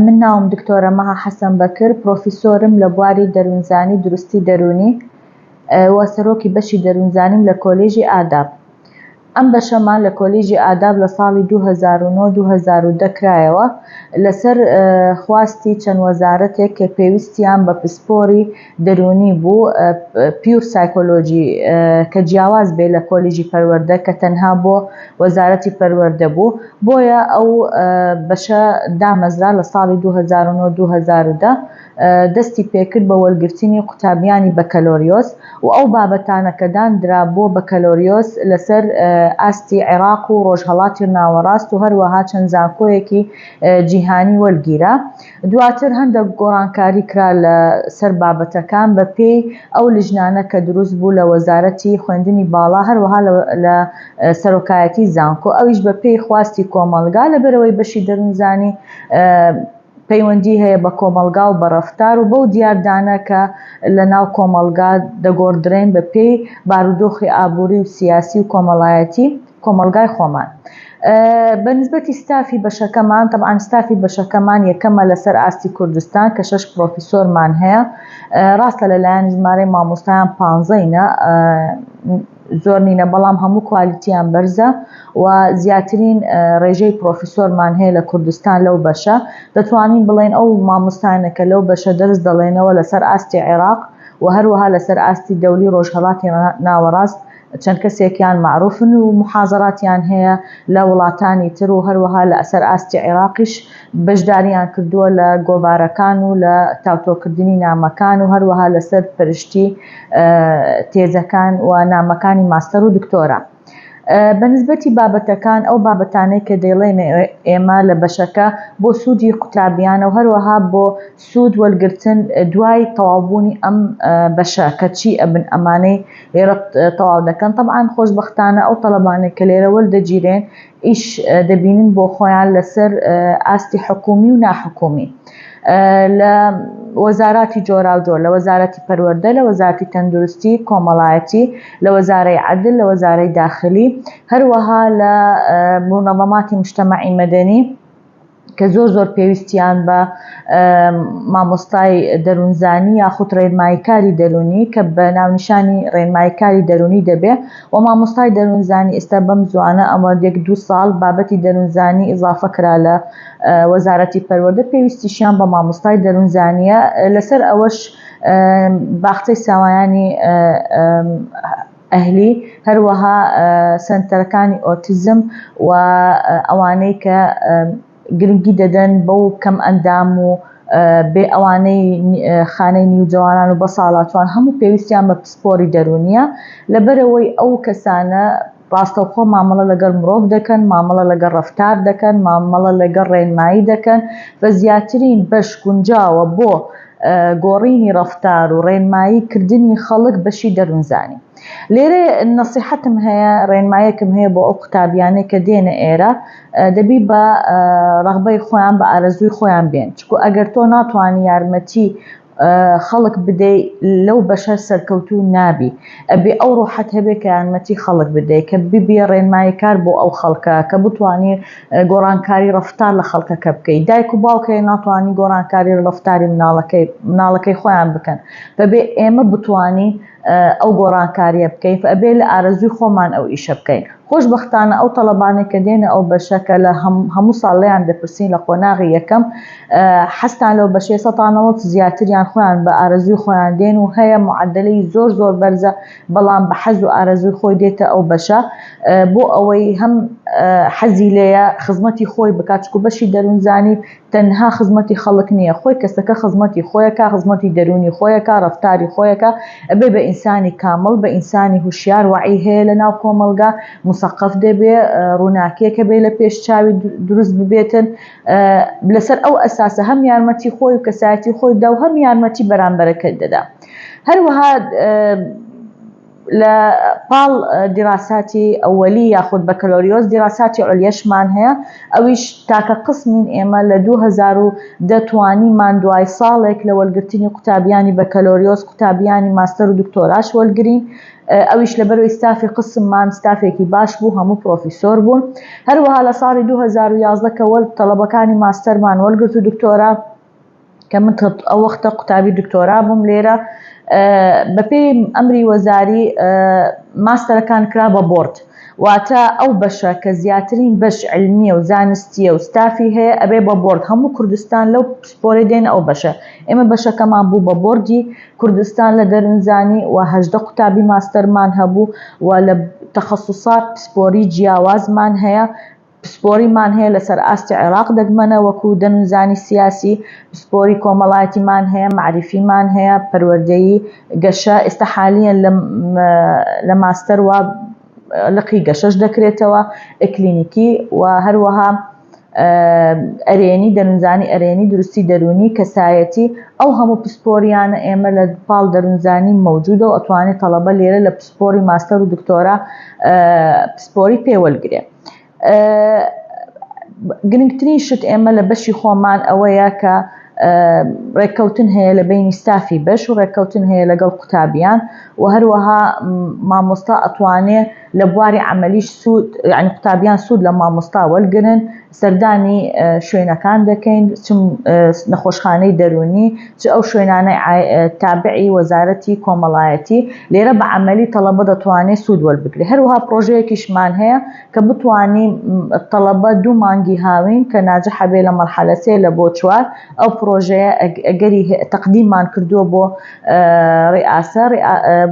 من ناوم دکتۆرە مەها حەسەن بەکر، پرۆفیسۆرم لە بواری دەروونزانی دروستی دەروونی و سەرۆکی بەشی دەروونزانیم لە کۆلێژی ئاداب. ئەم بەشەمان لە کۆلیژی ئاداب لە ساڵی دوو هەزار و نۆ دوو هەزار و دە کرایەوە لەسەر خواستی چەند وەزارەتێک کە پێویستیان بە پسپۆری دەروونی بوو پیور سایکۆلۆجی کە جیاواز بێ لە کۆلیژی پەروەردە کە تەنها بۆ وەزارەتی پەروەردە بوو بۆیە ئەو بەشە دامەزرا لە ساڵی دوو هەزار و نۆ دوو هەزار و دە دەستی پێکرد بە وەرگرتنی قوتابیانی بەکەلۆریۆس و ئەو بابەتانە کە داندرا بۆ بەکەلۆریۆس لەسەر ئاستی عێراق و ڕۆژهەڵاتی ناوەڕاست و هەروەها چەند زانکۆیەکی جیهانی وەرگیرا دواتر هەندەک گۆڕانکاری کرا لە سەر بابەتەکان بە پێی ئەو لجنانە کە دروست بوو لە وەزارەتی خوێندنی باڵا هەروەها لە سەرۆکایەتی زانکۆ ئەویش بە پێی خواستی کۆمەڵگا لە بەرەوەی بەشی دەرونزانی پەیوەندی هەیە بە کۆمەڵگا و بە ڕەفتار و بەو دیاردانە کە لە ناو کۆمەڵگا دەگۆڕدرێن بە پێی بارودۆخی ئابووری و سیاسی و کۆمەڵایەتی کۆمەڵگای خۆمان بە نسبەتی ستافی بەشەکەمان تەبان ستافی بەشەکەمان یەکەمە لەسەر ئاستی کوردستان کە شش پرۆفیسۆرمان هەیە ڕاستە لەلایەن ژمارەی مامۆستایان پانزەینە زۆر نینە بەڵام هەموو کوالیتیان بەرزە و زیاترین ڕێژەی پرۆفیسۆرمان هەیە لە کوردستان لەو بەشە دەتوانین بڵێن ئەو مامۆستانەکە لەو بەشە دەرز دەڵێنەوە لەسەر ئاستی عێراق و هەروەها لەسەر ئاستی دەولی ڕۆژهڵاتی ناوەڕاست چەند کەسێکیان مەعروفن و موحازەراتیان هەیە لە وڵاتانی تر و هەروەها لە سەر ئاستی عیراقیش بەشداریان کردووە لە گۆڤارەکان و لە تاوتۆکردنی نامەکان و هەروەها لە سەر پەرشتی تێزەکان و نامەکانی ماستەر و دکتۆرا. بە نسبەتی بابەتەکان ئەو بابەتانەی کە دەیڵێمێ ئێمە لە بەشەکە بۆ سوودی قوتابیانە و هەروەها بۆ سوود وەرگرتن دوای تەواوبوونی ئەم بەشە کەچی ئەبن ئەمانەی لێرە تەواو دەکەن طبعاان خۆشببختانە ئەو تەلەبانێک کە لێرە وەردەگیرێن ئیش دەبینن بۆ خۆیان لەسەر ئاستی حکومی و ناحکومی لە وەزاراتی جۆراوجۆر لە وەزارەتی پەروەەردە لە وەزارتی تەندروستی کۆمەڵایەتی لە وەزارەی عدل لە وەزارەی داخلی هەروەها لە بوونەڵەماتی مشتەمەعی مەدەنی کە زۆر زۆر پێویستیان بە مامۆستای دەروونزانی یاخود ڕێنماییکاری دەروونی کە بە ناونیشانی ڕێنماییکاری دەروونی دەبێ و مامۆستای دەروونزانی ئێستا بەم زوانە ئەمە یەک دوو ساڵ بابەتی دەروونزانی ئیزافە کرا لە وەزارەتی پەروەردە پێویستیشیان بە مامۆستای دەروونزانیە لەسەر ئەوەش باخچەی ساوایانی ئەهلی، هەروەها سەنتەرەکانی ئۆتیزم و ئەوانەی کە گرنگی دەدەن بەو کەم ئەندام و بێ ئەوانەی خانەی نیوجەوانان و بەساڵاچوان هەموو پێویستیان بە پسپۆری دەروونیە لەبەرئەوەی ئەو کەسانە ڕاستەوخۆ مامەڵە لەگەڵ مرۆڤ دەکەن مامەڵە لەگەڵ ڕەفتار دەکەن مامەڵە لەگەڵ ڕێنمایی دەکەن و زیاترین بەش گونجاوە بۆ گۆڕینی ڕەفتار و ڕێنمایی کردنی خەڵک بەشی دەروونزانی لێرە نەسیحەتم هەیە ڕێنمایەکم هەیە بۆ ئەو قوتابیانەی کە دێنە ئێرە دەبی بە ڕغبەی خۆیان بە ئارەزووی خۆیان بێن چکو ئەگەر تۆ ناتوانانی یارمەتی خەڵک بدەی لەو بەشە سەرکەوتو نابی ئەبێ ئەو ڕۆحەت هەبێ کە یارمەتی خەڵک بدەی کە ببیێ ڕێنمایی کار بۆ ئەو خەڵکە کە بتانی گۆڕانکاری ڕەفتار لە خەڵکەکە بکەیت دایک و باوکەیە ناتوانانی گۆڕانکاری ڕەفتاری مناڵەکەی مناڵەکەی خۆیان بکەن بەبێ ئێمە بتانی ئەو گۆڕانکاریە بکەیت ئەبێ لە ئارەزوی خۆمان ئەو ئیشە بکەین خۆش بەختانە ئەو تەڵەبانێک کە دێنە ئەو بەشەکە لە هەموو ساڵ لەیان دەپرسین لە قۆناغی یەکەم حەستان لەو بەشێ سەتانەوە زیاتریان خۆیان بە ئارەزوی خۆیان دێن و هەیە معدلی زۆر زۆر بەرزە بەڵام بە حەز و ئارەزووی خۆی دێتە ئەو بەشە بۆ ئەوەی هەم حەزی لێیە خزمەتی خۆی بکات چکو بەشی دەروونزانی تەنها خزمەتی خەڵک نییە خۆی کەسەکە خزمەتی خۆیەکە خزمەتی دەروونی خۆیەکە ڕفتاری خۆیەکە ئەبێ بە ئینسانی کامڵ بە ئینسانی هوشیار وعی هەیە لە ناو کۆمەڵگا مسەقف دەبێ ڕووناکیەکە بێ لە پێش چاوی دروست ببێتن لەسەر ئەو ئەساسە هەم یارمەتی خۆی و کەسایەتی خۆی دا و هەم یارمەتی بەرامبەرەکەت دەدا هەروەها لە پاڵ دیراساتی ئەوەلی یاخود بەکەلۆریۆس دیراساتی عولیەشمان هەیە ئەویش تاکە قسمین ئێمە لە دوو هەزار و دە توانیمان دوای ساڵێک لە وەلگرتنی قوتابیانی بەکەلۆریۆس قوتابیانی ماستەر و دکتۆراش وەلگرین ئەویش لە بەرەوەی ستافی قسممان ستافێکی باش بوو هەموو پرۆفیسۆر بوون هەروەها لە ساڵی دوو هەزار و یازدە کە وەل تەڵەبەکانی ماستەرمان وەلگرت و دکتۆرا کە من ئەو وەختە قوتابی دکتۆرا بووم لێرە بەپێی ئەمری وەزاری ماستەرەکان کرا بە بۆرد واتە ئەو بەشە کە زیاترین بەش علمیە و زانستیە و ستافی هەیە ئەبێ بە بۆرد هەموو کوردستان لەو پسپۆری دێن ئەو بەشە ئێمە بەشەکەمان بوو بە بۆردی کوردستان لە دەرنجانی و هەدە قوتابی ماستەرمان هەبوو و لە تەخصصات پسپۆری جیاوازمان هەیە پسپۆریمان هەیە لەسەر ئاستی عێراق دەگمەنە وەکو دەنوزانی سیاسی، پسپۆری کۆمەڵایەتیمان هەیە، مەعریفیمان هەیە، پەروەردەیی، گەشە، ئێستا حالیەن لە لە ماستەر وا لقی گەشەش دەکرێتەوە، ئکلینیکی و هەروەها ئەرێنی دەنوزانی ئەرێنی دروستی دەرونی کەسایەتی ئەو هەموو پسپۆریانە ئێمە لە پاڵ دەرونزانی مەوجودە و ئەتوانێت تەڵەبە لێرە لە پسپۆری ماستەر و دکتۆرا پسپۆری پێوەلگرێ. گرنگترین شت ئێمە لە بەشی خۆمان ئەوەیە کە ڕێککەوتن هەیە لە بینی ستافی بەش و ڕێککەوتن هەیە لەگەڵ قوتابیان و هەروەها مامۆستا ئەتوانێ لە بواری عملیش سوود یعنی قوتابیان سوود لە مامۆستا وەرگن سەردانی شوێنەکان دەکەین چم نەخۆشخانەی دەرونی چ ئەو شوێنانەی تابعی وەزارەتی کۆمەڵایەتی، لێرە بە عەمەلی تەڵەبە دەتوانێ سوود وەربگرێ. هەروەها پڕۆژەیەکیشمان هەیە کە بتوانین تەڵەبە دوو مانگی هاوین کە ناجح بێ لە مەرحەلە سێ لە بۆ چوار، ئەو پڕۆژەیە ئەگەری هەیە، تەقدیممان کردووە بۆ ریئاسە،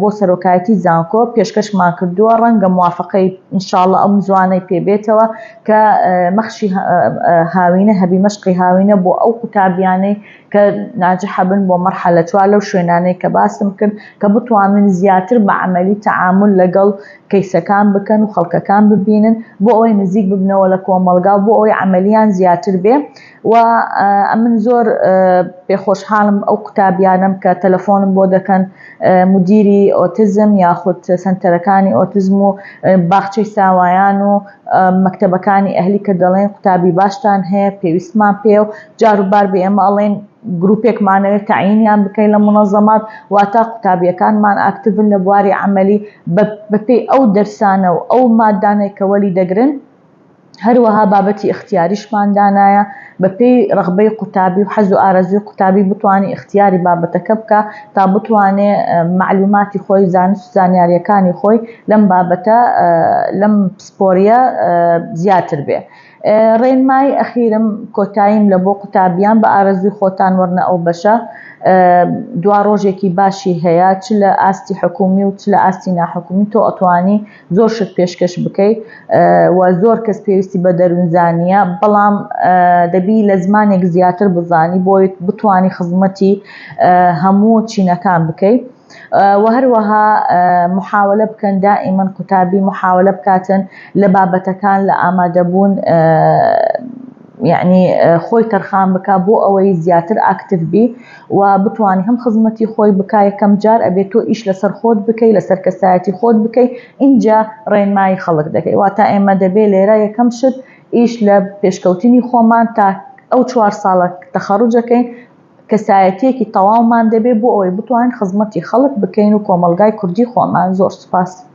بۆ سەرۆکایەتی زانکۆ پێشکەشمان کردووە، ڕەنگە موافەقەی ان شاء اللە ئەم زوانەی پێ بێتەوە کە مەخشی هاوینە هەبی، مەشقی هاوینە بۆ ئەو قوتابیانەی. کە ناجحە بن بۆ مەرحەلە چوار لەو شوێنانەی کە باسم کرد کە بتوانن زیاتر بە عەمەلی تەعامول لەگەڵ کەیسەکان بکەن و خەڵکەکان ببینن بۆ ئەوەی نزیک ببنەوە لە کۆمەڵگا و بۆ ئەوەی عەمەلیان زیاتر بێ و ئەمن زۆر پێخۆشحاڵم ئەو قوتابیانم کە تەلەفۆنم بۆ دەکەن مدیری ئۆتزم یاخود سنتەرەکانی ئۆتزم و باخچەی ساوایان و مەکتتەبەکانی ئەهلی کە دەڵێن قوتابی باشتان هەیە پێویستمان پێ و جاروبار بە ئێمە ئەڵێن گروپێکمانەوێت تەعینیان بکەین لە مونەزەمات، واتا قوتابییەکانمان ئاکتڤن لە بواری عەمەلی بە پێی ئەو دەرسانە و ئەو ماددانەی کە وەلی دەگرن، هەروەها بابەتی ئیختیاریشمان دانایە بە پێی رەغبەی قوتابی و حەز و ئارەزووی قوتابی بتوانێ ئیختیاری بابەتەکە بکا تا بتوانێ مەعلوماتی خۆی و زانست و زانیارییەکانی خۆی لەم بابەتە لەم پسپۆرییە زیاتر بێ. ڕێنمای ئەخیرم کۆتاییم لە بۆ قوتابیان بە ئارەزووی خۆتان وەرنە ئەو بەشە دوا ڕۆژێکی باشی هەیە چ لە ئاستی حکومی و چ لە ئاستی ناحکومی تۆ ئەتوانی زۆر شت پێشکەش بکەیت و زۆر کەس پێویستی بە دەروونزانە بەڵام دەبی لە زمانێک زیاتر بزانی بۆیت بتانی خزمەتی هەموو چینەکان بکەیت وە هەروەها محاولە بکەن دائیمەن قوتابی محاولە بکاتن لە بابەتەکان لە ئامادەبوون یعنی خۆی تەرخان بکە بۆ ئەوەی زیاتر ئاکتف بی و بتوانانی هەم خزمەتی خۆی بک یەکەم جار ئەبێت تۆ ئیش لەسەر خۆت بکەی لەسەر کەسایەتی خۆت بکەی اینجا ڕێنمایی خەڵک دەکەی واتا ئێمە دەبێ لێرە یەکەم شت ئیش لە پێشکەوتنی خۆمان تا ئەو چوار ساڵە تەخەڕوجەکەین کەسایەتیەکی تەواومان دەبێت بۆ ئەوەی بتوانین خزمەتی خەڵک بکەین و کۆمەڵگای کوردی خۆمان زۆر سوپاس.